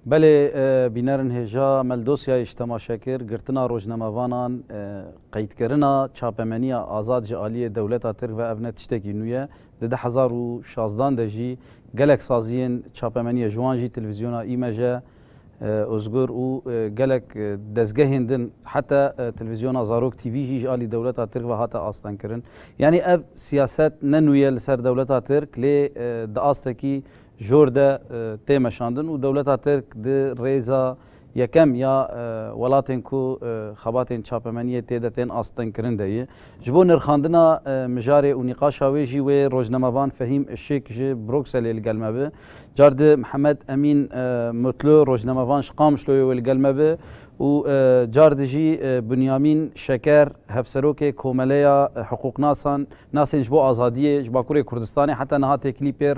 Belê bînerin hêja mel dosyayê ji temaşe kir, girtina rojnamevanan, qeydkirina çapemeniya azad ji aliyê dewleta Tirk ve ev ne tiştekî nû ye. Di du hezar û şazdan de jî gelek saziyên çapemeniye ji wan jî Televîzyona Îmej e, Ozgur û gelek dezgehên din heta Televîzyona Zarok TV jî ji alî dewleta Tirk ve hate astengkirin. Yanî ev siyaset ne nû ye li ser dewleta Tirk lê di astekî jor de tê meşandin û dewleta Tirk di rêza yekem ya welatên ku xebatên çapemeniyê tê de tên astinkirin de ye. Ji bo nirxandina mijarê û nîqaşa wê jî wê rojnamevan Fehîm Işik ji Brukselê li gel me bi. Car di Mihemed Emîn Mutlu rojnamevan ji Qamişloyê wê li gel me bi û car di jî Bunyamîn Şeker Hevserokê Komeleya Hiqûqnasan nasên ji bo Azadiyê ji Bakurê Kurdistanê heta niha têkilî pêr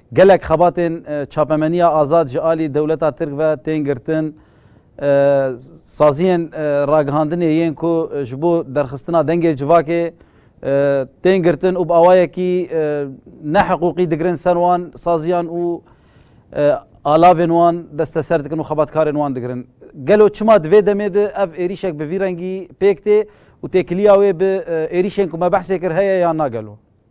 Gelek xebatên çapemeniya azad ji alî dewleta Tirk ve tên girtin. Saziyên ragihandinê yên ku ji bo derxistina dengê civakê tên girtin û bi awayekî ne hiqûqî digirin ser wan, saziyan û alavên wan desteser dikin û xebatkarên wan digirin. Gelo çima di vê demê de ev êrîşek bi vî rengî pêk tê û têkiliya wê bi êrîşên ku me behsê kir heye yan na gelo?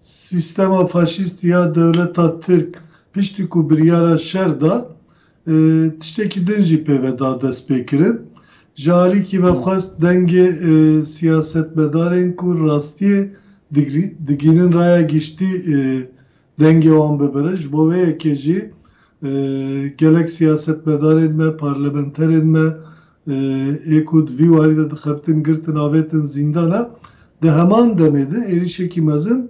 Sîstema faşîstî ya dewleta Tirk piştî ku biryara şer da, tiştekî din jî pê ve da destpêkirin. Ji alîkî ve xwest dengê siyasetmedarên ku rastiyê digihînin raya giştî dengê wan bibirin. Ji bo vê yekê jî gelek siyasetmedarên me, parlamenterên me ê ku di vî warî de dixebitin girtin avêtin zîndan e. Di heman demê de êrîşekî mezin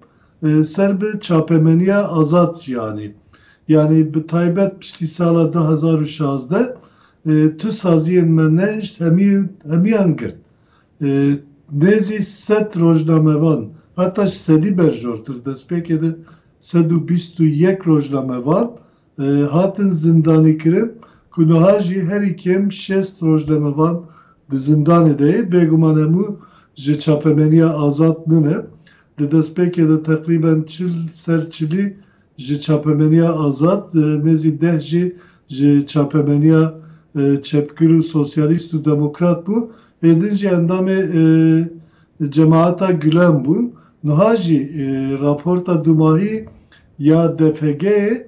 ser bi çapemeniya azad jî anî. Yanî bi taybet piştî sala du hezar û şazdeh tu saziyên me nehişt hemiyan girt. Nêzî sed rojnamevan heta ji sedî berjortir destpêkê de sed û bîst û yek rojnamevan hatin zindanîkirin ku niha jî herî kêm şêst rojnamevan di zindanê de yê, bêguman hemû ji çapemeniya azad nine. Di destpêkê de teqrîben çil ser çilî ji çapemeniya azad, nêzî deh jî ji çapemeniya çepgir û sosyalîst û demokrat bû, ê din jî endamê Cemaeta Gulen bûn. Niha jî raporta dumahî ya DFG'ê,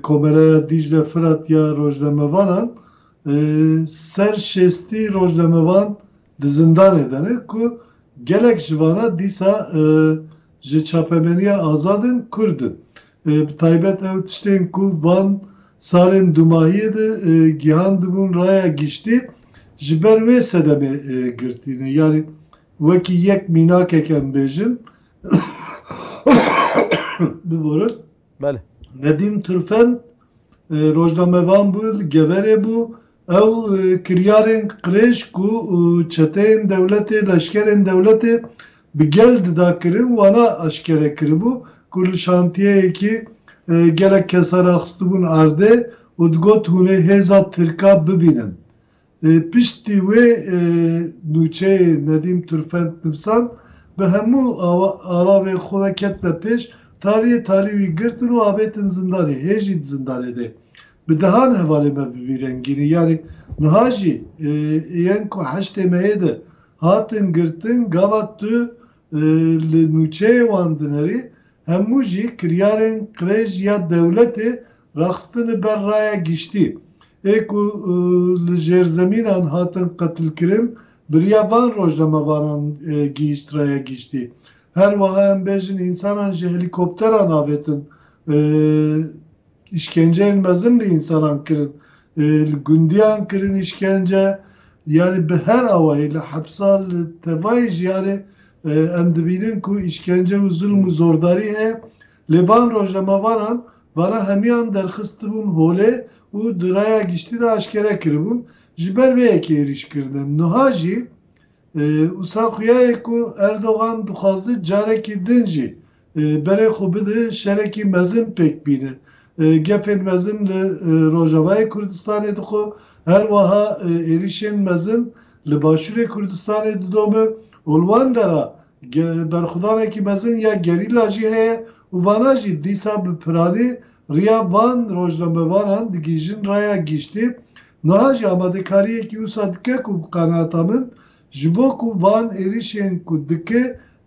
Komeleya Dîcle Firat ya Rojnamevanan, ser şêstî rojnamevan di zindanê de ne ku gelek ji vana dîsa ji çapemeniya azad in, Kurd in. Bi taybet ew tiştên ku van salên dumahiyê de gihandibûn raya giştî ji ber wê sedemê girtîne. Yanî wekî yek mînakek em bêjin, Biborin. Belê. Nedîm Turfend e, rojnamevan bû, li Geverê bû. Ew e, kiryarên qirêj ku e, çeteyên dewletê, leşkerên dewletê bi gel dida kirin, wana eşkere kiribû ku li şantiyeyekî e, gelek kesa raxistibûn erdê û digot hûnê hêza tirka bibînin. Piştî wê nûçeyê Nedîm Turfend nivîsand, bi hemû alavên xwe ve ketine pêş, taliyê talî wî girtin û avêtin zindanê, hê jî di zindanê de. Bi dehan hevalên me bi vî rengînî, yanî niha jî yên ku heştê meyê de hatin girtin, gava tu Li nûçeyê wan dinêrî hemû jî kiryarên qirêj ya dewletê raxistine ber raya giştî. Ê ku li jêrzemînan hatin qetilkirin biriya van rojnamevanan gihîşt raya giştî. Her wiha em bêjin însanan ji helîkopteran avêtin. Îşkenceyên mezin li însanan kirin, li gundiyan kirin îşkence, yanî bi her awayî li hepsa li tevayê jiyanê em dibînin ku îşkence û zilm û zordarî heye, lê van rojnamevanan vana hemiyan derxistibûn holê û di raya giştî de aşkere kiribûn, ji ber vê yekê êrîş kirine. Nuha jî wisa xuya ye ku Erdogan dixwaze carekî din jî Berê xwe bide şerekî mezin pêk bîne. Gefên mezin li Rojavayê Kurdistanê dixwe, her weha êrîşên mezin li Başûrê Kurdistanê didome û li wan dera berxwedanekî mezin ya gerîla jî heye û vana jî dîsa bi piranî riya van rojnamevanan digihîjin raya giştî. Niha jî amadekariyekî wisa dike ku bi qenaata min Ji bo ku van êrişên ku dike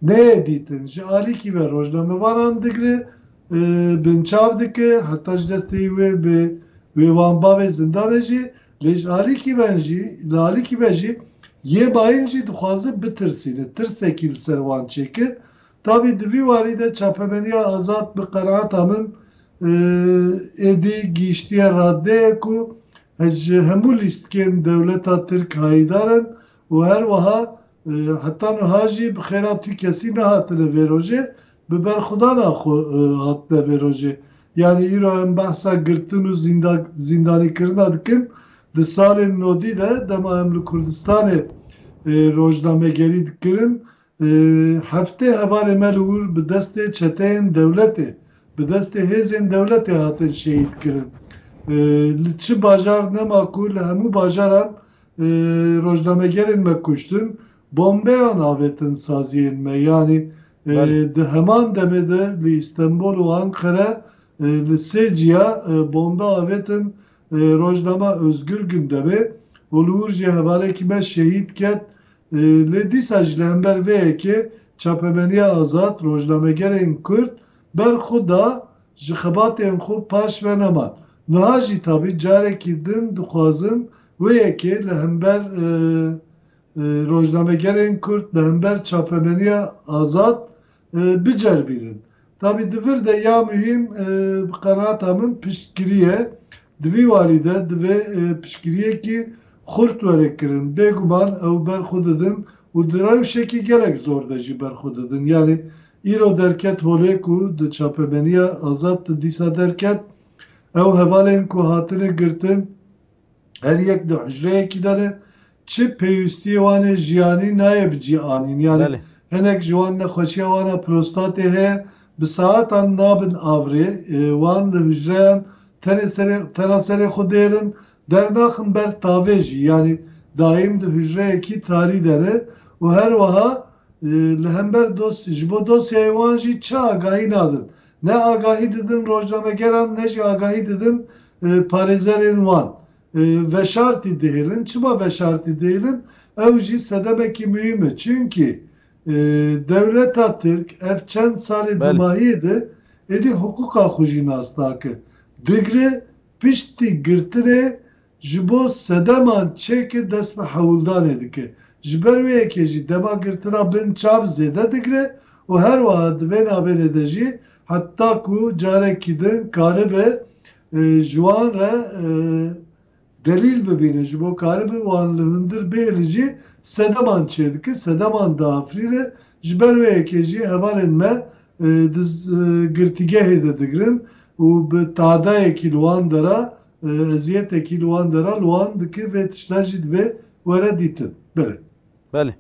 neyê dîtin, ji alîkî ve rojnamevanan digre, binçav dike, heta ji destê wê bi wê wan bavê zindanê jî, lê ji alîkî ven jî, li alîkî ve jî yê mayîn jî dixwazin bitirsîne, tirsekî li ser wan çêkir. Tavî di vî warî de çapemeniya Azad bi qenaata min êdî gihîştiye raddeyê ku Ez ji hemû lîstikên dewleta Tirk hayîdar im û her wiha heta niha jî bi xêra tu kesî nehatine vê rojê, bi berxwedana xwe hatine vê rojê. Yanî îro em behsa girtin û zîndanîkirina dikin, di salên nodî de dema em li Kurdistanê rojnamegerî dikirin Heftê hevalê me li wir bi destê çeteyên dewletê, bi destê hêzên dewletê hatin şehîd kirin. Li çi bajar nema ku li hemû bajaran rojnamegerên me kuştin, bombeyan avêtin saziyên me. Yanî di heman demê de li Îstenbol û Anqere li sê ciya bombe avêtin rojnama Özgür Gündemê û li wir jî hevalekî me şehîd ket Lê dîsa jî li hember vê yekê çapemeniya azad rojnamegerên Kurd ber xwe da ji xebatên xwe paş ve neman. Nuha jî tabî carekî din dixwazin wê yekê li hember rojnamegerên Kurd li hember çapemeniya azad biceribînin. Tabî di vir de ya muhîm bi qenaata min piştgirî ye. Di vî warî de divê piştgirîyekî xurt were kirin. Bêguman ew ber xwe didin û di rewşekî gelek zor de jî ber xwe didin. Yanî îro derket holê ku di çapemenîya Azad de dîsa derket, ew hevalên ku hatine girtin, Her yek di hucreyekî de ne, çi pêwîstiyê wan ê jiyanî nayê bi cî anîn. Yanî Belê. hinek ji wan nexweşiya wan a prostatê heye, bi saetan nabin avirê. Wan li hucreyan tenê serê tena serê xwe dêr in, dernaxin ber tavê jî. Yanî daîm di hucreyekî tarî de ne û her wiha li hember dos ji bo dosyayê wan jî çi agahî nadin. Ne agahî didin rojnamegeran ne jî agahî didin parêzerên wan. Veşartî dihêlin. Çima veşartî dihêlin? Ew jî sedemekî muhîm e. Çimkî dewleta tirk ev çend salê dûmahiyê de êdî hiqûqa xwe jî nas nake. Digre piştî girtinê Ji bo sedeman çêke dest bi hewldanê dike. Ji ber wê yekê jî dema girtina bin çav zêde digre û her wiha di vê navênê de jî heta ku carekî din karibe ji wan re delîl bibîne ji bo karibe wan li hundir bihêle jî sedeman çê dike, sedeman diafrîne. Ji ber wê yekê jî hevalên me di girtîgehê de digirin û bi tadayekî li wan dera Ezîyetekî li wan dera li wan dike vê tişta jî divê were dîtin. Belê. Belê.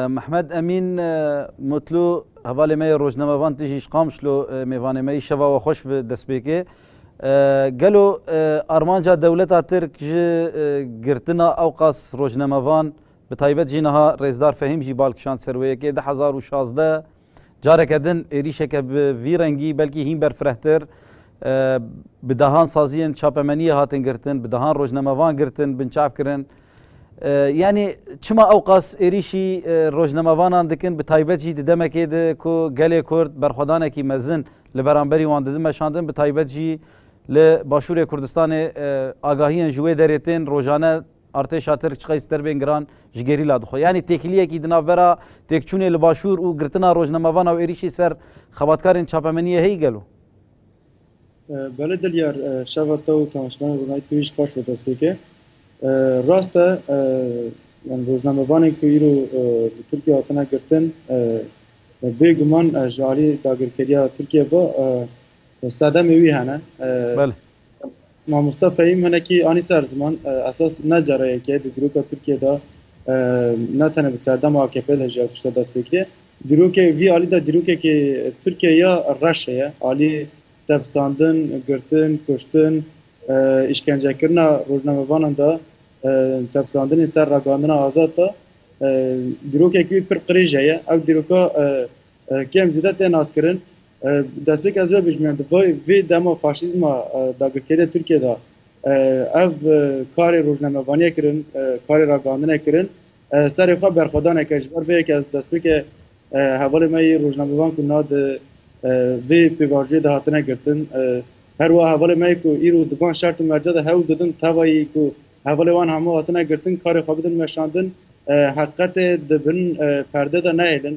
Mehmed Emîn Mutlu hevalê me yê rojnamevan tijî ji Qamişlo mêvanê me yî. Şeva we xweş bi destpêkê. Gelo armanca dewleta Tirk ji girtina ewqas rojnamevan bi taybet jî niha Rêzdar Fehîm jî bal kişand ser wê yekê di hezar û şazdeh Careke din êrîşeke bi vî rengî belkî hîn berfirehtir bi dehan saziyên çapemeniyê hatin girtin, bi dehan rojnamevan girtin, binçav kirin. Yanî çima ewqas êrîşî rojnamevanan dikin bi taybet jî di demekê de ku gelê Kurd berxwedanekî mezin li beramberî wan didin meşandin bi taybet jî li Başûrê Kurdistanê agahiyên ji wê derê tên rojane Artêşa Tirk çiqas derbên giran ji gerîla dixwe. Yanî têkiliyekî di navbera têkçûnê li Başûr û girtina rojnamevan a û êrîşî ser xebatkarên çapemeniyê heyî gelo? Belê Dilyar, şeva te û tanşinan rûnayî te wî ji qas ve dest pê kir. Rast e yan rojnamevanên ku îro li Tirkiye hatine girtin bê guman ji aliyê dagirkeriya Tirkiye ve sedemê wî hene. Mamosta Fehîm hinekî anî ser ziman esas ne cara yekê di dîroka Tirkiyê de ne tene bi serdema AKP de jî ev tişta dest pê kiriye. Dîrokê vî alî de dîrokekê Tirkiye ya reş heye. Alî tepsandin, girtin, kuştin, îşkencekirina rojnamevanan de tepsandinê ser ragandina azad de dîrokekî wî pir qirêj heye. Ew dîroka Kêm zêde tê naskirin. Destpêk ez vebijmiya di vê dema faşîzma dagirkerê Tirkiye de ev karê rojnamevaniyê kirin, karê ragihandinê kirin. Serê xwe berxwedaneke ji ber vê yekê ez destpêkê hevalê me yê rojnamevan ku na di vê pêvajoyê de hatine girtin. Her wiha hevalê me yê ku îro di van şert û merca de hewl didin tevayî ku hevalê wan hemû hatine girtin karê xwe bidin weşandin. Heqiqetê di bin perde de nehêlin.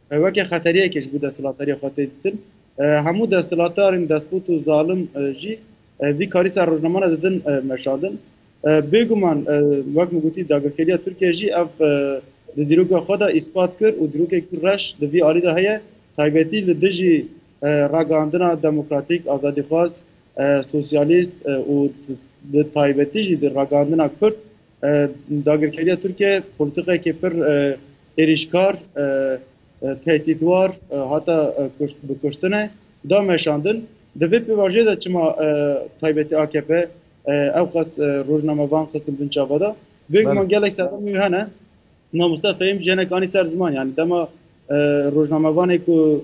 Weke xeteriyekê ji bo desthilatdariyê xwe tê ditin. Hemû desthilatdarên despot û zalim jî vî karî ser rojnaman re didin meşadin. Bêguman wek min gotî dagirkeriya Tirkiye jî ev di dîroka xwe de îspat kir û dîrokek ku reş di vî alî de heye taybetî li dijî ragihandina demokratîk, azadîxwaz, sosyalîst û bi taybetî jî di ragihandina kurd Dagirkeriya Tirkiye polîtîkayekî pir êrîşkar, tehdîtwar hata bi kuştin e da meşandin. Di vê pêvajoyê de çima taybetî akp ewqas rojnamevan xistin bin çava de? Vê guman gelek serdemên wî hene. Mamoste Fehîm jinek anî ser ziman yanî dema rojnamevanê ku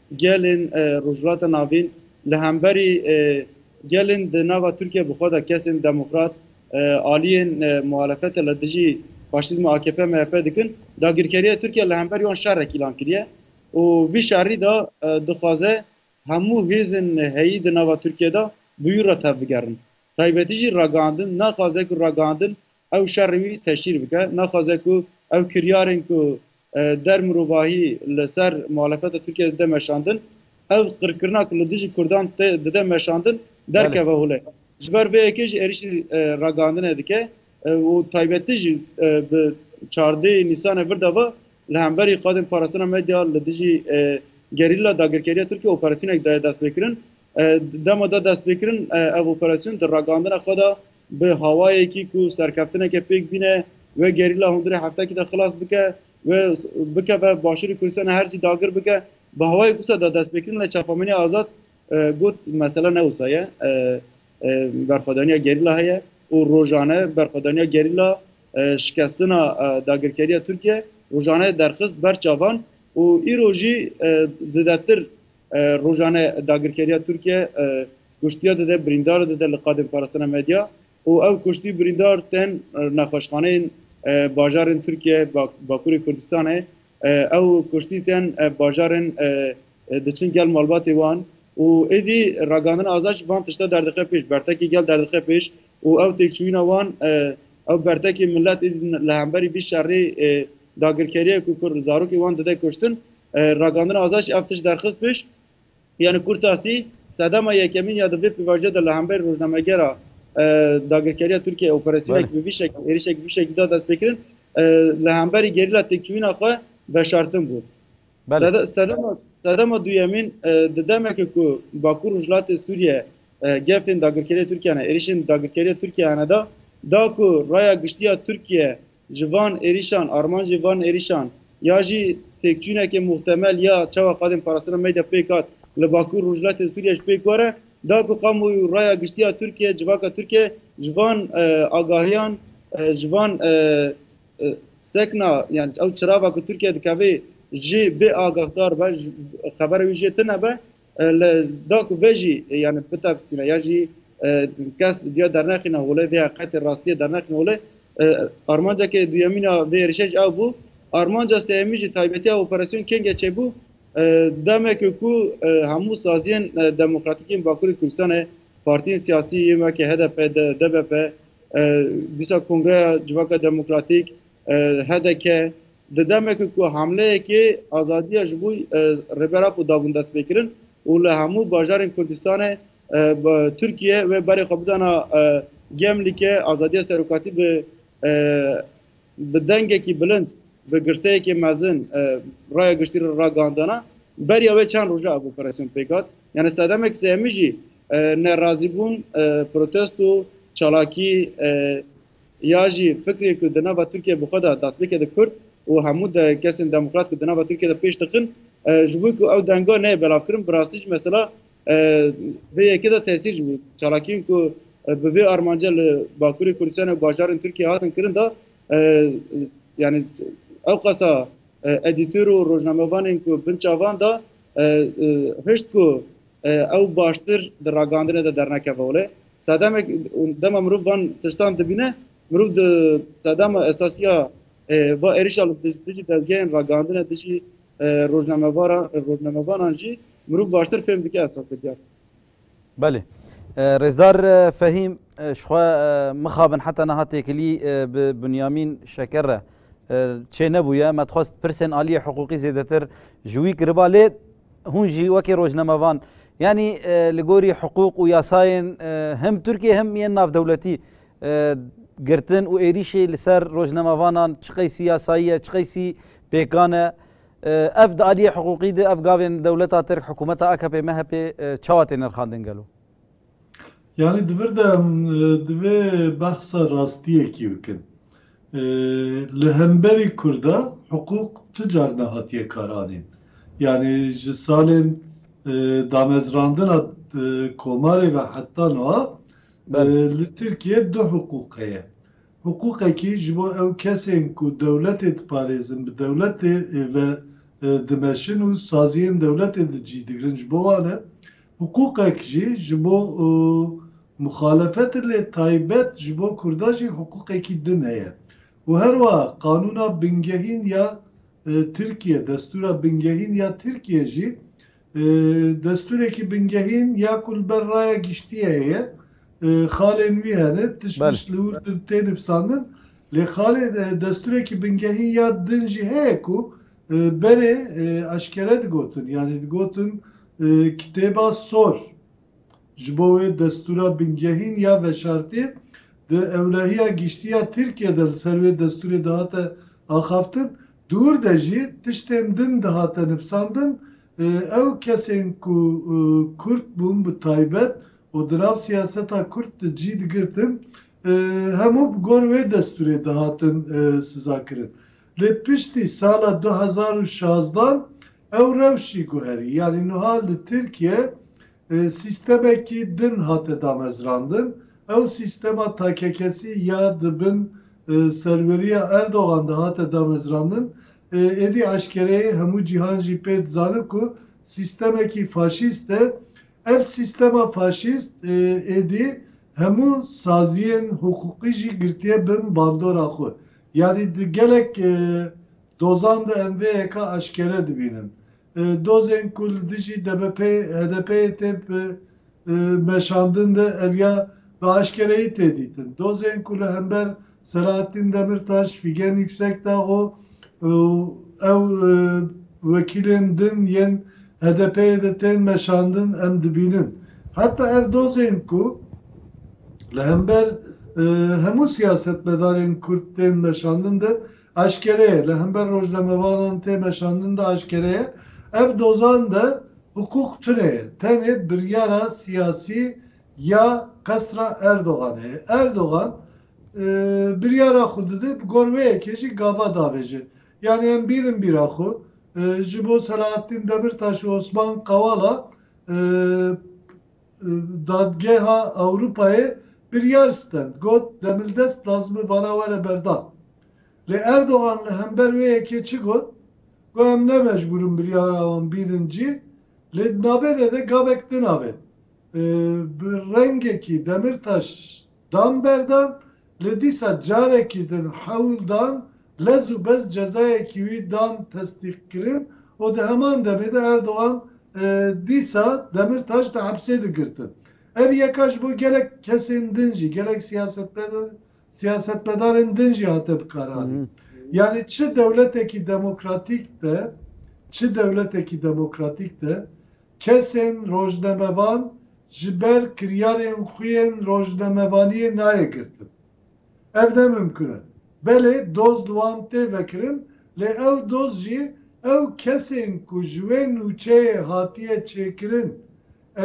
Gelên Rojhilata Navîn li hemberî gelên di nava Tirkiye bi xwe de kesên demokrat, aliyên muhalefete li dijî faşîzma AKP-MHP dikin, dagirkeriya Tirkiye li hemberî wan şerek îlan kiriye û vî şerî de dixwaze hemû hêzên heyî di nava Tirkiye de bi wî re tevbigerin. Taybetî jî ragihandin naxwaze ku ragihandin ew şerê wî teşhîr bike, naxwaze ku ew kiryarên ku der mirovahî li ser muhalefeta Tirkiyeyê dide meşandin, ev qirkirina ku li dijî Kurdan tê dide meşandin derkeve holê. Ji ber vê yekê jî êrîşî ragihandinê dike û taybetî jî bi çardêyî Nîsanê vir de va li hemberî qadên parastina medya li dijî gerîla dagirkeriya Tirkiyeyê operasyonek daye destpêkirin. Dema da destpêkirin ev operasyon di ragandina xwe de bi hawayekî ku serkeftineke pêk bîne wê gerîla hundirê heftekî de xilas bike û bikeve Başûrê Kurdistanê her cî dagir bike bi hawayek wisa da destpêkirin lê çapemenîya azad got mesela ne wisa ye berxwedaniya gerîla heye û rojane berxwedaniya gerîla şikestina dagirkeriya Tirkiye rojane derxist ber çavan û îro jî zêdetir Rojane dagirkeriya Tirkiye kuştiya dide birîndar dide li qadên parastina medya û ew kuştî birîndar tên nexweşxaneyên bajarên Tirkiye Bakurê Kurdistanê ew kuştî tên bajarên diçin gel malbatê wan û êdî ragandina Azaj van tişta derdixe pêş bertekî gel derdixe pêş û ew têkçûyîna wan ew bertekê miletê didin li hemberî vî şerê dagirkeriyê ku kurd zarokê wan dide kuştin. Ragandina Azad jî ev tişt derxist pêş. Yani Kurtasî sedema yekemîn ya di vê pêvajoyê de li hemberî rojnamegera dagirkeriya Tirkiyeyê operasyonek bi vî şekilî êrişek bi vî şekilî da destpêkirin li hemberî gerîla têkçûyîna xwe veşartin bû. Belê. Sede- Sedema sedema duyemîn e, di demeke ku Bakur Rojhilatê Sûriye e, gefên dagirkeriyê Tirkiye ne êrişên dagirkeriyê Tirkiye ne da da ku raya giştiya Tirkiye ji van êrişan armancê van êrişan ya jî têkçûneke muhtemel ya çawa qadên parastina meyda pêk hat li Bakur Rojhilatê Sûriye ji pêk were da ku kamuoyû raya giştiya Tirkiye civaka Tirkiye ji van e, agahiyan e, ji van e, sekna yan ew çirava ku Tirkiye dikevê jê bê agahdar be xebera wî jê tune be li da ku vê jî yani bitefsîne ya jî kes diya dernexîna holê vê heqetê rastiye dernexîna holê armancekê duyemîna vê êrişê ji ew bû armanca seyemî jî taybetiya operasyon kengê çêbû demekê ku hemû saziyên demokratîkên Bakurê Kurdistanê partiyên siyasî yê weke HDP, DBP, Dîsa Kongreya Civaka Demokratîk, HDK, di demekê ku hamleyekê azadiya ji bo Rêber Apo dabûn destpêkirin û li hemû bajarên Kurdistanê Tirkiye wê berê xwe bidana Gemlîkê azadiya serokatî bi Bi dengekî bilind, bi girteyekî mezin raya giştî re ragihandana beriya wê çend roja ev operasyon pêk hat. Yanî sedemek sêhemî jî nerazîbûn, protesto, çalakî ya jî fikrê ku di nava Tirkiyeyê bi xwe de destpêke di Kurd û hemû kesên demokrat ku di nava Tirkiyeyê de pêş dixin ji bo ku ew denga neyê belavkirin bi rastî jî mesela Vê yekê de tesîr ji bo çalakiyên ku bi vê armanca li Bakurê Kurdistanê û bajarên Tirkiyeyê hatin kirin de yanî ewqasa edîtor û rojnamevanên ku bin çavan de hişt ku ew baştir di ragandinê de dernekeve wile. Sedemek dema mirov van tiştan dibîne mirov di sedema esasiya va êrişa li dijî dezgehên ragandinê dijî rojnamevanan jî mirov baştir fêm dike esasê diyar. Belê. Rêzdar Fehîm ji xwe mixabin heta niha têkilî bi Binyamîn Şeker re çê nebûye me dixwest pirsên aliyê hiqûqî zêdetir ji wî kiriba lê hûn jî wekî rojnamevan yanî li gorî hiqûq û yasayên him Tirkiye him yên navdewletî girtin û êrîşê li ser rojnamevanan çiqeysî yasayiye çiqeysî Pêkan e. Ev di aliyê hiqûqî de ev gavên dewleta Tirk, hikumeta akp, mhp çawa tê nirxandin gelo? Yanî di vir de divê behsa rastiyekî bikin. Li hemberî Kurda hiqûq tu car nehatiye karanîn. Yanî ji salên damezrandina komarê ve heta nuha li Tirkiye du hiqûq heye. Hiqûqekî ji bo ew kesên ku dewletê diparêzin, bi dewletê ve dimeşin û saziyên dewletê di cî digirin ji bo wan e. Hiqûqek jî ji bo muxalefet e lê taybet ji bo Kurda jî hiqûqekî din heye û her wiha qanûna bingehîn ya Tirkiye, destûra bingehîn ya Tirkiye jî Destûrekî bingehîn ya ku li ber raya giştiyê heye, xalên wî hene, tişt mişt li wir tê nivîsandin. Lê xalê destûrekî bingehîn ya din jî heye ku berê eşkere digotin, yanî digotin kitêba sor. Ji bo wê destûra bingehîn ya veşartî di Ewlehiya Giştî ya Tirkiyê de li ser wê destûrê dihate axaftin, dûr de jî tiştên din dihate nivsandin, ew kesên ku Kurd bûn bi taybet û di nav siyaseta Kurd de cî digirtin hemû bi gor wê destûrê dihatin sizakirin. Lê piştî sala du hezar û şazda ew rewşî guherî, yanî nuha li Tirkiye sîstemekî din hate damezrandin, ew sîstema takekesî ya di bin serweriya Erdogan de hate damezrandin, êdî eşkereyê hemû cîhan jî pê dizane ku sîstemekî faşîst e. Ev sîstema faşîst êdî hemû saziyên hiqûqî jî girtiye bin bandora xwe. Yanî di gelek dozan de em vê hêka eşkere dibînin. Dozên ku li dijî DBP'ê, HDP'ê tê meşandin de ev ya bi eşkereyî tê dîtin. Dozên ku li hember Selahattîn Demirtaş, Fîgen Yüksekdağo û ew wekîlên din yên HDP'ê de tên meşandin em dibînin. Heta ev dozên ku Li hember hemû siyasetmedarên Kurd tên meşandin de eşkere ye, li hember rojnamevanan tê meşandin de eşkere ye. Ev dozan de hiqûq tune ye. Tenê biryara siyasî ya qesra Erdoganê ye. Erdogan biryara xwe dide, bi gor wê yekê jî gava davêje. Yanî em bîrin bîra xwe, ji bo Selahattîn Demirtaş û Osman Kavala Dadgeha Ewropayê biryar stend, got Demildest lazim e vana were berdan. Lê Erdogan li hember wê yekê çi got, Got em ne mecbûr in biryara wan bînin cî, lê di navênê de gavek din avêt. Bi rengekî Demirtaş dan berdan, Lê dîsa carekî din hewl dan lez û bez cezayekî wî dan testîqkirin û di heman demê de Erdogan dîsa Demîrtaş di hepsê de girtin. Ev yeka ji bo gelek kesên din jî, gelek siyasetmedarên din jî hate bikaranîn. Yanî çi dewletekî demokratîk de, çi dewletekî demokratîk de, kesên rojnamevan ji ber kiryarên xwe yên rojnamevaniyê nayê girtin. Ev ne mimkun e. Belê doz li wan tê vekirin lê ew doz jî ew kesên ku ji wê nûçeyê hatiye çêkirin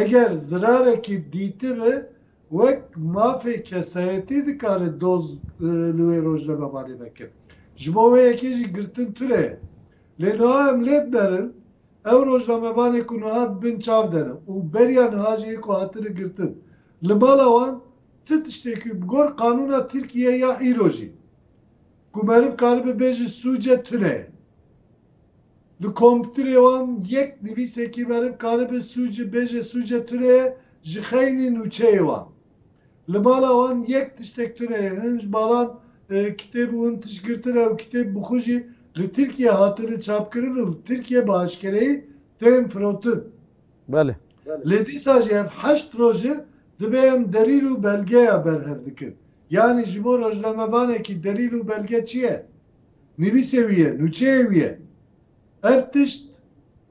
eger zirarekî dîtibe wek mafê kesayetî dikare doz li wê rojnamevanê vekin. Ji bo wê yekê jî girtin tune ye. Lê niha em lê dimerin Ew rojnamevanê ku niha di bin çav de ne û beriya niha jî ê ku hatine girtin li mala wan ti tiştê ku bi gor qanûna Tirkiyeyê ya îro jî ku meriv karibe bê ji sûce tune ye. Li kompûtirê wan yek nivîsekî meriv karibe sûc bêje sûce tune ye ji xeynî nûçeyê wan. Li bala wan yek tiştek tune ye, hin ji balan kitêb û hin tişt girtin e û kitêb bi xwe jî li Tirkiyeyê hatine çapkirin û li Tirkiyeyê bi aşkereyî tên firotin. Belê. Lê dîsa jî ev heşt roje dibe em delîl û belgeya berhev dikin. Yanî ji bo rojnamevanekî delîl û belge çi ye? Nivîsê wî ye, nûçeyê wî ye. Ev tişt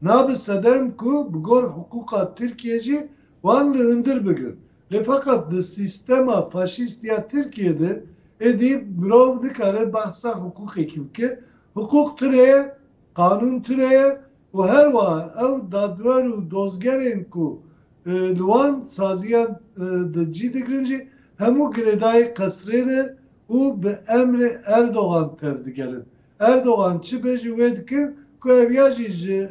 nabe sedem ku bi gor hiqûqa Tirkiyê jî wan li hundir bigrin. Lê feqet di sîstema faşîstî ya Tirkiyê de êdî mirov nikare behsa hiqûqekî bike. Hiqûq tune ye, qanûn tune ye û her wiha ew dadwer û dozgerên ku li wan saziyan de cî digirin jî hemû girêdayî qesrê ne û bi emrê Erdogan tevdigerin. Erdogan çi bê jî wê dikir ku ev ya jî ji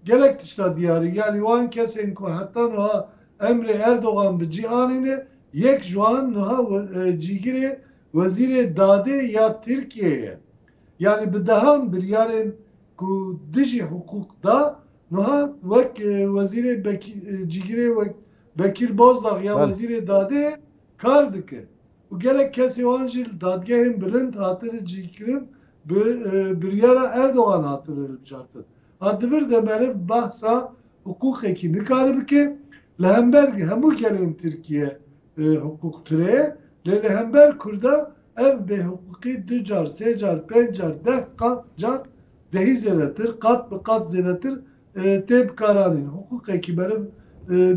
gelek tişta diyar e. Yanî wan kesên ku heta nuha emrê Erdogan bi cî anîne, yek ji wan nuha cîgirê Wezîrê Dadê ya Tirkiyeyê ye. Yanî bi dehan biryarên ku dijî hiqûq da, nuha wek wezîrê cîgirê wek Bekîr Bozdag ya Wezîrê Dadê ye kar dike. û gelek kesê wan jî li dadgehên bilind hatine cîkirin bi biryara Erdogan hatine hilbijartin. A di vir de meriv behsa hiqûqekî nikare bike, li hember hemû gelên Tirkiye hiqûq tune ye, lê li hember Kurda ev bêhiqûqî du car, sê car, pênc car, deh car dehî zêdetir, qat bi qat zêdetir tê bikaranîn. Hiqûqekî meriv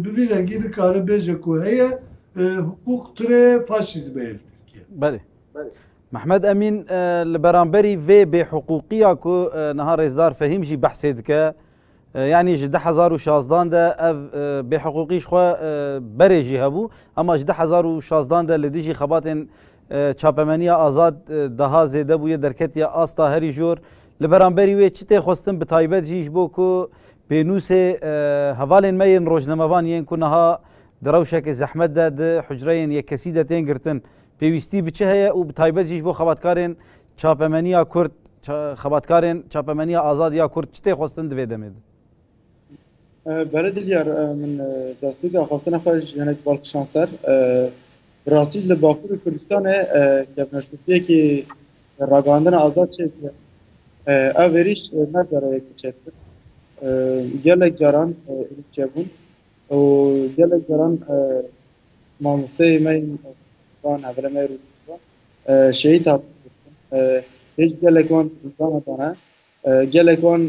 bi vî rengî nikare bêje ku heye hiqûq tune ye faşîzme ye li Tirkiye. Belê. Mehmet Emîn li beramberî vê bêhiqûqiya ku niha Rêzdar Fehîm jî behsê dike yanî ji du hezar û şazdan de ev bêhiqûqî ji xwe berê jî hebû ema ji du hezar û şazdan de li dijî xebatên Çapemeniya Azad daha zêde bûye derketiye asta herî jor. Li beramberî wê çi tê xwestin bi taybet jî ji bo ku pênûsê hevalên me yên rojnamevan yên ku niha di rewşeke zehmet de di hucreyên yekkesî de tên girtin pêwîstî bi çi heye û bi taybet jî ji bo xebatkarên çapemeniya Kurd, xebatkarên Çapemeniya Azad ya Kurd çi tê xwestin di vê demê de? Bere Dilyar min destpêka xwestina xwe ji hinek balkişan ser. Bi rastî li Bakurê Kurdistanê kevneşopiyekê ragihandina azad çêk e. Ev êrîş ne dereyekê çêk e. Gelek caran êrîş çêbûn û gelek caran mamosteyê me yên van hevrê me rû şehîd hatin. Hêj gelek wan dana Gelek wan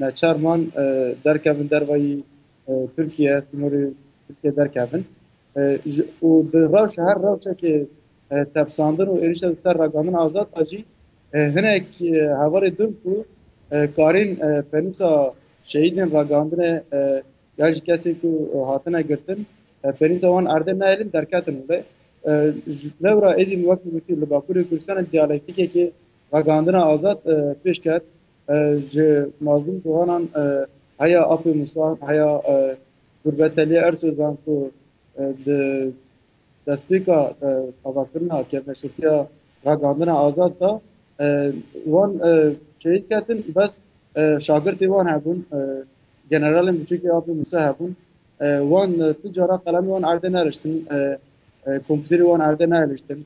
neçar man derkevin dervayî Tirkiye, sînorê Tirkiye derkevin û bi rewşa her rewşekê tepsandin û êrîşa li ser Ragamin Azad a jî hinek hevalê din ku karên pênûsa şehîdên ragihandine ya jî kesên ku hatine girtin pênûsa wan erdê nehêlin derketin wê. Lewra êdî min wekî gotî li Bakurê Kurdistanê diyalektikekê Ragihandina Azad pêş ket ji mazlûm ciwanan heya Apê Musa, heya Gurbeteliya Ersozan ku di destpêka avakirina kevneşirtiya Ragihandina Azad de wan şehîd ketin bes şagirtê wan hebûn generalên biçûkê Apê Musa hebûn wan tu cara qelemê wan erdê neriştin kompîterê wan erdê neeliştin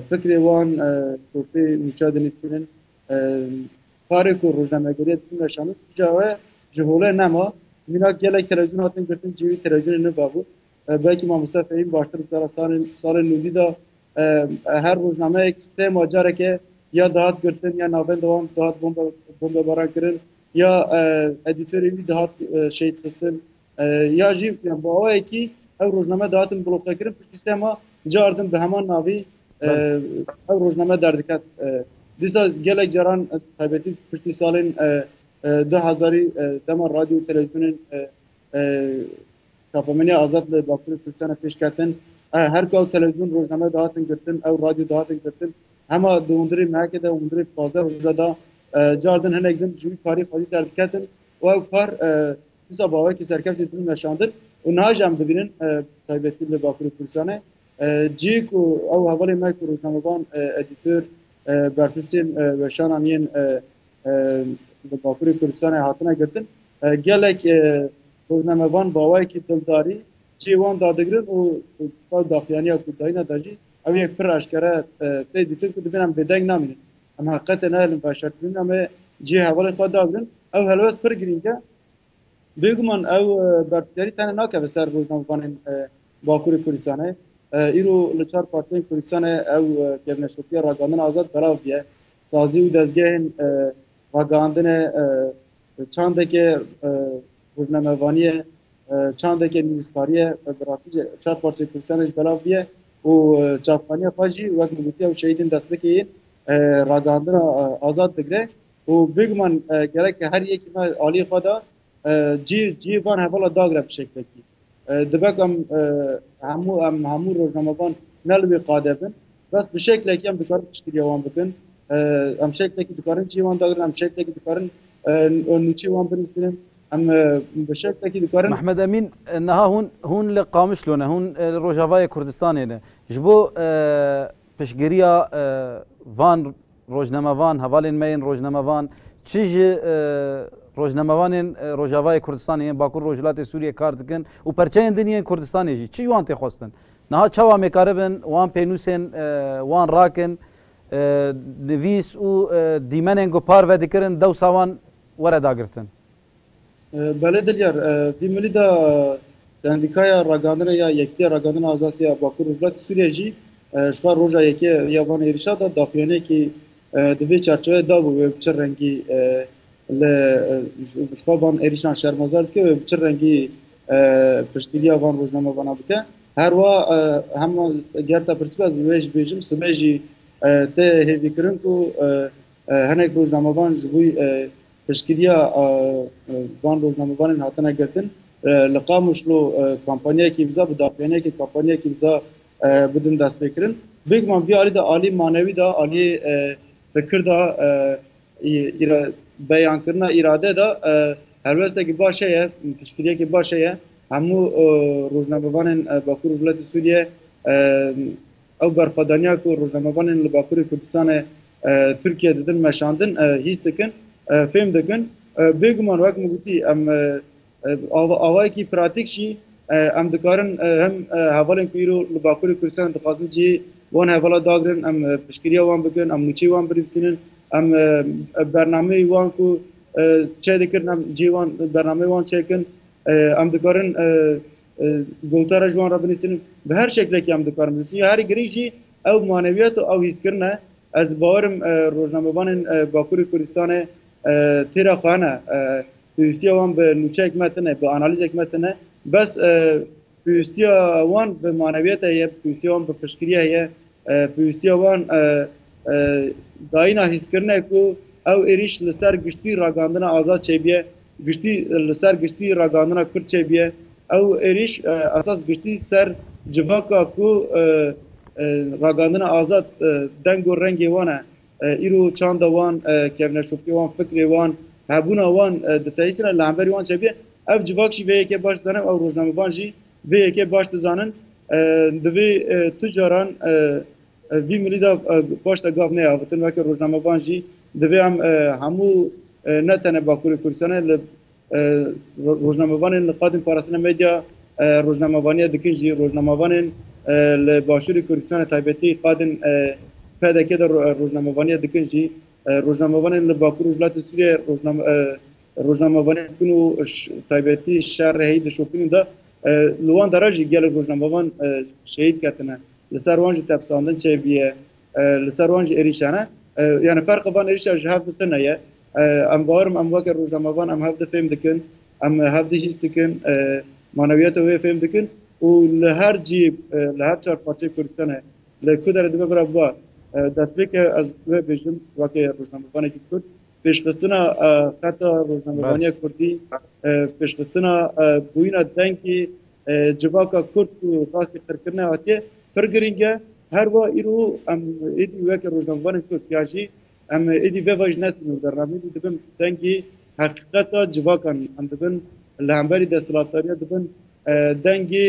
Fikrê wan ku pê nûça dinivîn in karê ku rojnamegeriyê dikin veşanî tîja we ji holê nema. Mînak gelek televizyonê hatin girtin cî wî televizyonê niva bû. Belkî Mamoste Fehîm baştir bi te re salên nûdî de her rojnameyek sê ma careke ya dihat girtin ya navenda wan dihat bombebaran kirin ya edîtorê wî dihat şehîd xistin. ya jî bi awayekî ev rojname dihatin bloqekirin piştî sê ma cardin bi heman navî ev rojname derdiket dîsa gelek caran taybetî piştî salên du hezarî dema radyo televizyonên çapemeniya azad li Bakurê Kurdistana pêşketin her ku ew televizyon rojname dihatin girtin ew radyo dihatin girtin hema di hundirê meheke de hundirê pazdeh roja da cardin hinek din ji wî karî xwedî derdiketin û ew kar Dîsa bavekî serkeftî dibin meşandin û niha jî em dibînin taybetî li Bakurê Kurdistanê cî ku ew hevalên me ku rojnamevan edîtor berpirsên weşanan yên li Bakurê Kurdistanê hatine girtin gelek rojnamevan bawayekî dildarî cihê wan dadigirin û daxuyaniya ku dayîne de jî ew yek pir eşkere tê dîtin ku dibin em bêdeng namînin. Em heqetê neelin xwe şertbînin em ê cihê hevalên xwe dabrin. Ew helwest pir girîng e. Bêguman ew berpidarî tenê nakeve ser rojnamevanên Bakurê Kurdistanê. Îro li çar partiyên Kurdistanê ew kevneşopiya ragandina azad belav biye. Sazî û dezgehên ragihandinê Çandeke rûvnemevaniye, çandeke nivîskariye bi rastî jî çar parçeyê Kurdistanê jî belav bûye û çavxaniya xwe jî wek min gotiya û şehîdên destpêkê yên ragihandina azad digire û bêguman gerek her yekî me aliyê xwe da cî cî van hevala dagre bi şeklekî. Divek em hemû em hemû rojnamevan ne li wê qade bin. Bes bi şeklekî em dikarin piştgiriya wan bikin. Em şeklekî dikarin cihê wan dagirin, em şeklekî dikarin nûçeyê wan binivînin. Em bi şeklekî dikarin. Mehmed Emîn, niha hûn hûn li Qamişlo ne, hûn li Rojavayê Kurdistanê ne. Ji bo piştgiriya van Rojnamevan, hevalên me yên rojnamevan çi ji rojnamevanên Rojavayê Kurdistanê yên Bakur Rojhilatê Sûriyê kar dikin û perçeyên din yên Kurdistanê jî çi ji wan tê xwestin? Niha çawa mêkaribin wan pênûsên wan rakin, nivîs û dîmenên ku parve dikirin dewsa wan were dagirtin? Belê Dilyar, vî milî de Sendîkaya Ragandina ya Yekîtiya Ragandina Azad ya Bakur Rojhilatê Sûriyeyê jî ji xwe roja yekê ya van êrîşa de daxuyaniyekî di vê çarçeweyê dabû wê bi çi rengî li ji xwe van êrîşan şermezar dike wê bi çi rengî piştgiriya van rojnamevanan bike. Her wa hema gerta pirsika zî wê ji bêjim sibê jî tê hêvîkirin ku hinek rojnamevan ji bo Piştgiriya van rojnamevanên hatine girtin, li Qamişlo kampanyayekî imza bi daxuyaniyekê kampanyayekî imza bidin destpêkirin. Bêguman vê alî de aliyê manewî de, aliyê fikir de, beyankirina îrade de helwestekî baş heye, piştgiriyekî baş heye. Hemû rojnamevanên Bakur Rojhilatê Sûriye ew berxwedaniya ku rojnamevanên li Bakurê Kurdistanê Tirkiye didin meşandin hîs dikin fêm dikin bêguman wek min gotî em awayekî pratik jî em dikarin hem hevalên ku îro li Bakurê Kurdistanê dixwazin cihê wan hevala dagirin em piştgiriya wan bikin em nûçeyê wan binivîsînin em bernameyê wan ku çê dikirin em cihê wan bernameyê wan çêkin em dikarin gotara ji wan re binivîsînin bi her şeklekî em dikarin binivîsînin herî girîng jî Ew manewiyat û ew hîskirine ez di bawerim rojnamevanên Bakurê Kurdistanê têra xwe hene. Pêwîstiya wan bi nûçeyek me tune, bi analîzek me tune. Bes pêwîstiya wan bi manewiyete heye, pêwîstiya wan bi piştgiriyê heye, pêwîstiya wan dayîna hîskirine ku ew êrîş li ser giştî ragandina azad çêbiye. Giştî li ser giştî ragihandina Kurd çêbî ye. Ew êrîş esas giştî ser civaka ku ragihandina azad deng û rengê wan e, îro çanda wan, kevneşopîya wan, fikrê wan, hebûna wan diteyîsîne li hemberî wan çêbî ye. Ev civak jî vê yekê baş dizane û ew rojnamevan jî vê yekê baş dizanin. Divê tu caran Vî mirî de paş de gav neyê avitin weke rojnamevan jî divê em hemû ne tene Bakurê Kurdistanê li rojnamevanên li qadên parastina medya rojnamevaniya dikin jî rojnamevanên li Başûrê Kurdistanê taybetî qadên PDK de rojnamevaniya dikin jî rojnamevanên li Bakur Rojhilatê Sûriye rojnamevaniya dikin û taybetî şer heyî di şopînin de li wan de re jî gelek rojnamevan şehîd ketine. li ser wan jî tepsandin çêbîye, li ser wan jî êrîşe ne. Yani ferqê van êrîşa ji hev di tune ye. Em bawerim em weke rojnamevan em hev di fêm dikin, em hev di hîs dikin, manewiyeta wê fêm dikin û li her cî li her çar parçeyê Kurdistanê li ku derê dibe bira biba destpêke ez wê bêjim weke rojnamevanekî Kurd pêşxistina xeta rojnamevaniya Kurdî pêşxistina bûyîna dengê civaka Kurd û rastî qirkirine hatiye pir girîng e her wa îro em êdî weke rojnamevanên Kurd ya jî em êdî vê vaj nesîn û bernameyê dî dibin dengê heqîqeta civakan em dibin li hemberî desthilatdariya dibin dengê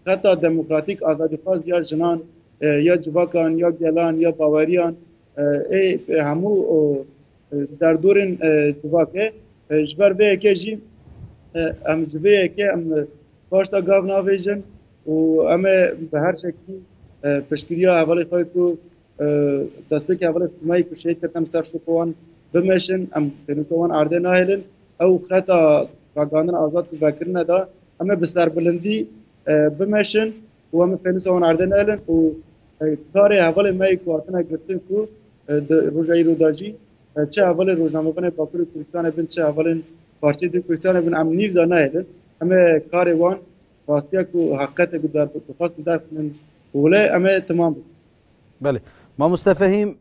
Xeta demokratîk azadîxwaz ya jinan ya civakan ya gelan ya baweriyan ê hemû derdorên civak e ji ber vê yekê jî em ji vê yekê em paşta gav navêjin û em ê bi her şekî piştgiriya hevalê xwe ku destpêkê hevalê Sumeyê ku şehîd ketem ser şoka wan bimeşin em pênûka wan erdê nahêlin ew xeta ragandina azad ku vekirine da Em ê bi serbilindî bimeşin û em ê pênûsa wan erdê neelin û karê hevalên me yê ku hatine girtin ku di roja îro de jî çi hevalên rojnamevanê Bakurê Kurdistanê bin çi hevalên Partiyê Duyê Kurdistanê bin em nîv de nehêlin. Em ê karê wan rastiya ku heqiqetê ku dixwastin derxînin wile em ê temam bikin. Belê. Mamoste Fehîm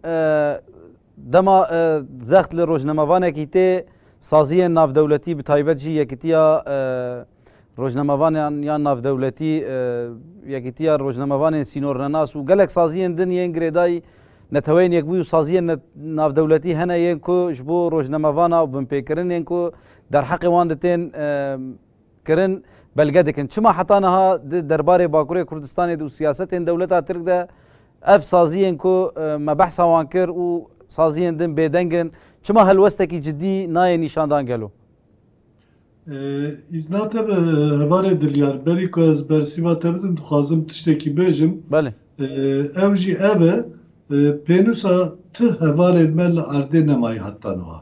dema zext li rojnamevanekî tê saziyên navdewletî bi taybet jî yekitiya rojnamevanan yan navdewletî yekitiya rojnamevanên sînornenas û gelek saziyên din yên girêdayî neteweyên yekbûyî û saziyên navdewletî hene yên ku ji bo rojnamevana û binpêkirinên ku derheqê wan di tên kirin belge dikin. Çima heta niha di derbarê Bakurê Kurdistanê de û siyasetên dewleta Tirk de ev saziyên ku me behsa wan kir û saziyên din bêdeng in, çima helwestekî cidî nayê nîşandan gelo? Îzna te bi hevalê Dilyar. Berî ku ez bersiva te bidim dixwazim tiştekî bêjim. Belê. Ew jî ev e, pênûsa tu hevalên me li erdê nemayî heta niha.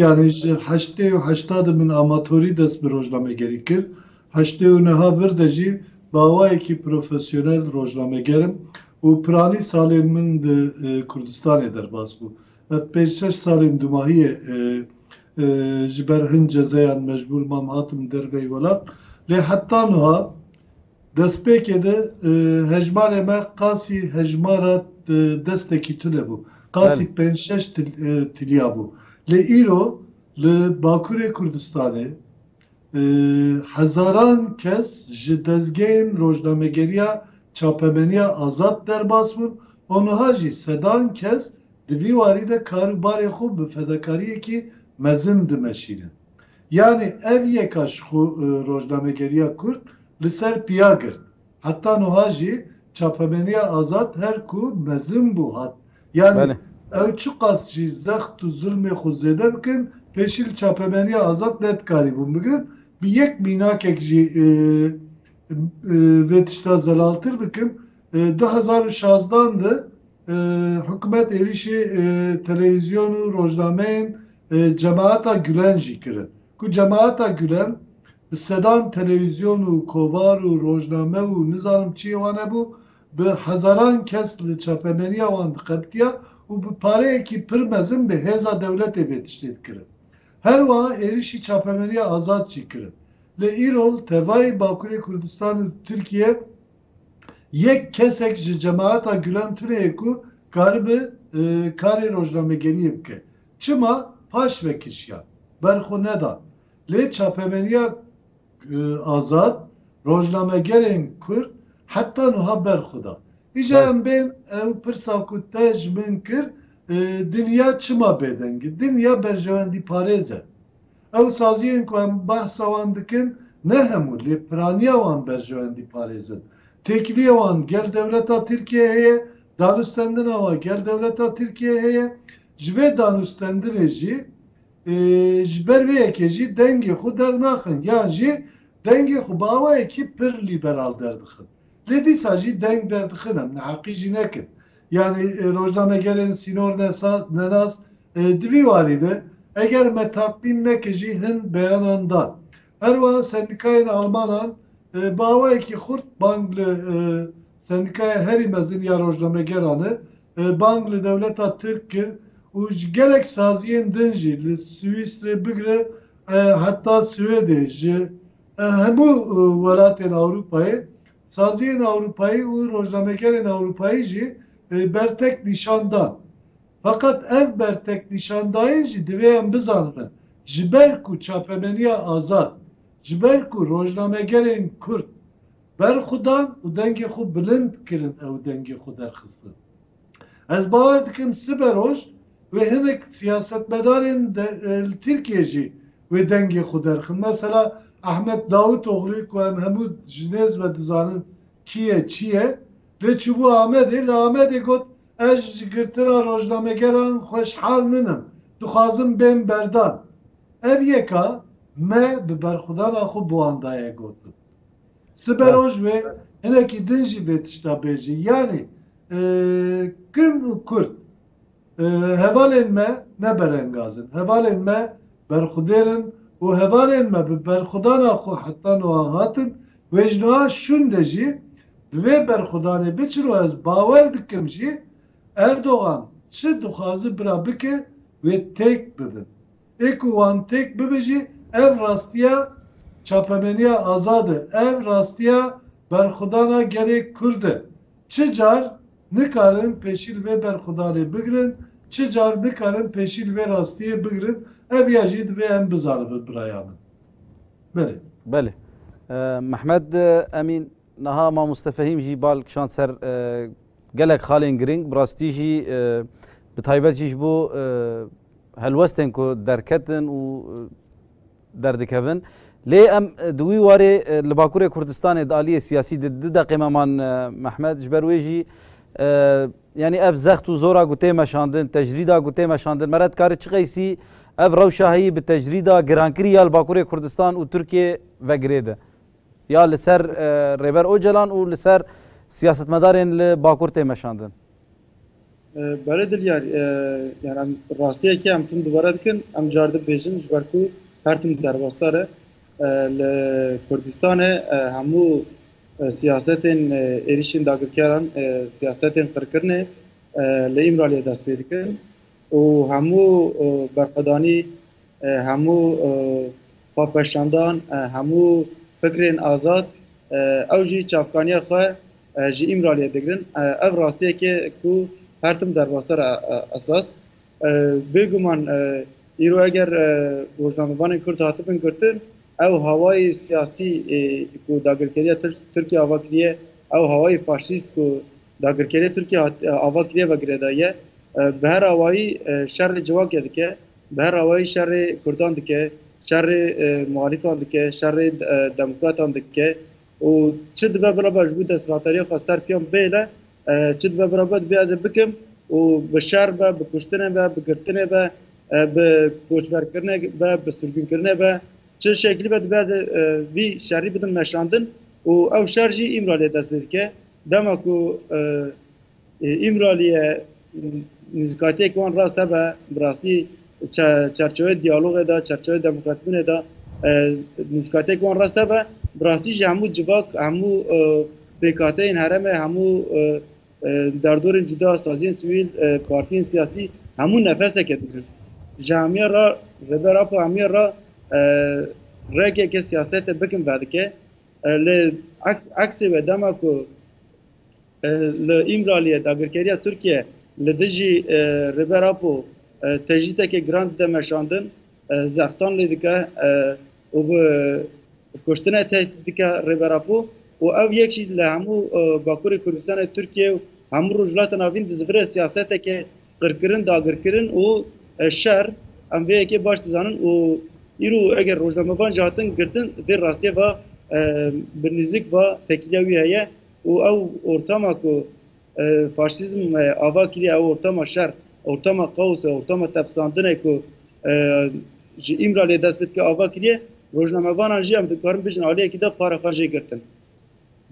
Yanî ji heştê û heştadê min amatorî dest bi rojnamegerî kir, heştê û niha vir de jî bi awayekî profesyonel rojnameger im û piranî salên min di Kurdistanê derbas bû. Ev pênc şeş salên dumahiyê ji ber hin cezeyan mecbûr mam hatim derveyî welat lê heta niha, Destpêkê de hejmarê me qasî hejmara destekî tune bû. Qasî pênc şeş tilya bû. Lê îro li Bakurê Kurdistanê hezaran kes ji dezgehên rojnamegeriya çapemeniya azad derbas bûn û nuha jî sedan kes di vî warî de kar û barê xwe bi fedakariyekî mezin dimeşînin. Yanî ev yeka ji xwe rojnamegeriya Kurd li ser piya girt. Heta nuha jî çapemeniya azad her ku mezin bû hat. Yanî ew çiqas jî zext û zilmê xwe zêde bikin pêşî li çapemeniya azad nedikarîbûn bigrin. Bi yek mînakek jî vê tişta zelaltir bikim. Du hezar û şazdan de Hikûmet êrîşê telewîzyon û rojnameyên Cemaeta Gulen jî kirin ku Cemaeta Gulen bi sedan telewîzyon û kovar û rojname û nizanim çiyê wan hebû bi hezaran kes li çapemeniya wan diqebitiya û bi pareyekî pir mezin bi hêza dewletê vê tiştê dikirin. Her wiha êrîşî çapemeniya Azad jî kirin. Lê îro li tevayê Bakurê Kurdistan û Tirkiyê, Yek kesek ji Cemaeta Gulan tuneye ku karibe karê rojnamegeriyê bike. Çima paş vekişiya, berxwe neda. Lê çapemeniya azad rojnamegerên kurd heta nuha berxwe da. Îja em bên ew pirsa ku te ji min kir, dinya çima bêdeng e? Dinya berjewendîparêz e. Ew saziyên ku em behsa wan dikin ne hemû lê piraniya wan berjewên dîparêzin. Têkiliyê wan gel dewleta Tirkiyeyê heye, danûstendina wan gel dewleta Tirkiyeyê heye. Ji vê danûstendinê jî ji ber vê yekê jî dengê xwe dernaxin yan jî dengê xwe bi awayekî pir lîberal derdixin. Lê dîsa jî deng derdixin em neheqî jî nekin. Yanî rojnamegerên sînor nesa nenas di vî warî de eger me tatlîn neke jî hin beyanan dan. Her wiha sendîkayên almanan bi awayekî xurt bang li sendîkaya herî mezin ya rojnamegeran e bang li dewleta tirk kir û ji gelek saziyên din jî li Swîsrê bigire heta Swêdê ji hemû welatên Ewropayê Saziyên Ewropayî û rojnamegerên Ewropayî jî bertek nîşan dan. Feqet ev bertek nîşandayîn jî divê em bizanin e, ji ber ku çapemeniya azad, ji ber ku rojnamegerên Kurd berxwedan û dengê xwe bilind kirin ew dengê xwe derxistin. Ez bawer dikim sibe roj wê hinek siyasetmedarên li Tirkiyê jî wê dengê xwe derxin. Mesela Ahmet Davutoglûyê ku em hemû ji nêz ve dizanin kî ye çi ye lê çûbû Amedê li Amedê got ez ji girtina rojnamegeran xweşhal ninim dixwazim bên berdan. Ev yek a me bi berxwedana xwe bi wan daye gotin. Sibe roj wê hinekî din jî vê tişta bêjî yanî kin û kurd hevalên me ne berengaz in. Hevalên me berxwedêr in û hevalên me bi berxwedana xwe heta nuha hatin. Wê ji nuha şûnde jî bi vê berxwedanê biçin û ez bawer dikim jî Erdogan çi dixwazi bira bike wê têk bibin. Ê ku wan têk bibe jî ev rastiya çapemeniya azad e, ev rastiya berxwedana gelê Kurd e. Çi car nikarin pêşî li vê berxwedanê bigirin, çi car nikarin pêşî li vê rastiyê bigirin, ev ya jî divê em bizanibin biraya min. Belê. Belê. Mehmed Emîn, niha Mamoste Fehîm jî bal kişand ser gelek xalên giring, bi rastî jî bi taybet jî ji bo Helwestên ku derketin û derdikevin. Lê em di wî warê li Bakurê Kurdistanê di aliyê siyasî de du deqê me man Mehmet, ji ber wê jî yanî ev zext û zora ku tê meşandin, tecrîda ku tê meşandin mere dikarî çiqeysî ev rewşa heyî bi tecrîda girankirî ya li Bakurê Kurdistan û Tirkiyê ve girê de. Ya li ser Rêber Ocalan û li ser siyasetmedarên li Bakur tê meşandin. Belê Dilyar, yani em rastiyekê em tim dubare dikin, em car dibêjin ji ber ku her tim derbastar e. Li Kurdistanê hemû siyasetên êrişên dagirkeran, siyasetên qirkirinê li Îmraliyê dest pê dikin û hemû berxwedanî Hemû xwepeşandan, hemû fikrên azad ew jî çavkaniya xwe ji Îmraliyê digirin. Ev rastiyekê ku her tim derbas ser esas. Bêguman îro eger rojnamevanên Kurd hatibin girtin, ew hawayê siyasî ku dagirkeriya Tirkiyê ava kiriye, ew hawayê faşîst ku dagirkeriya Tirkiyê ava kiriye ve girêdayî ye. Bi her awayî şerê civakê dike. Bi her awayî şerê kurdan dike, şerê muhalîfan dike, şerê demokratan dike û çi dibe birabe ji bo desthilatdarîya xwe ser piyan bêle, çi dibe birabe divê ez ê bikim û bi şer be, bi kuştinê be, bi girtinê be, bi koçberkirinê be, bi sirgûnkirinê be, çi şeklî be divê ez ê vî şerî bidim meşandin û ew şer jî îmraliyê dest pê dike. Dema ku Îmraliye nîzikatiyek wan rast hebe bi rastî çerçeweyê diyalogê de, çerçeweyê demokratîbûnê de nîzikatiyek wan rast hebe. Bi rastî jî hemû civak, hemû pêkhateyên herêmê, hemû derdorên cuda, saziyên sivîl, partiyên siyasî hemû nefeseke dikin. Ji hemî re Rêber Apo hemî re rekeke siyasetê bikin vedike. Lê eksê wê dema ku Li Îmraliyê dagirkeriya Tirkiye li dijî Rêber Apo tecrîdekê giran dide meşandin, zextan lê dike û bi kuştine tehdît dike Rêber Apo û ew yek jî li hemû Bakurê Kurdistanê Tirkiye û hemû Rojhilata Navîn dizivire siyaseteke qirkirin, dagirkirin û şer. Em vê yekê baş dizanin û îro eger rojnamevan jî hatin girtin vê rastiyê ve bi nîzik ve tekîliya wî heye. û ew ortama ku faşîzm ava kiriye ew ortama şer, ortama kaos e, ortama tepsandin e ku ji Îmraliyê dest bi dike ava kiriye, rojnamevanan jî em dikarin bijin aliyekî de para xwe jê girtin.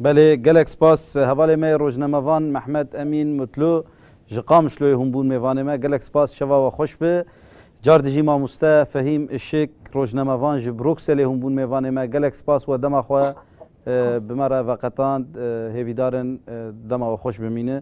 Belê, gelek spas. Hevalê me yê rojnamevan Mehmet Emîn Mutlu ji Qamişloyê hûn bûn mêvanê me. Gelek spas, şeva we xweş be. Car dijî mamoste Fehîm Işik, rojnamevan ji Brukselê hûn bûn mêvanê me. Gelek spas we dema xwe Bi me re veqetand. Hêvîdar in dema we xweş bimîne.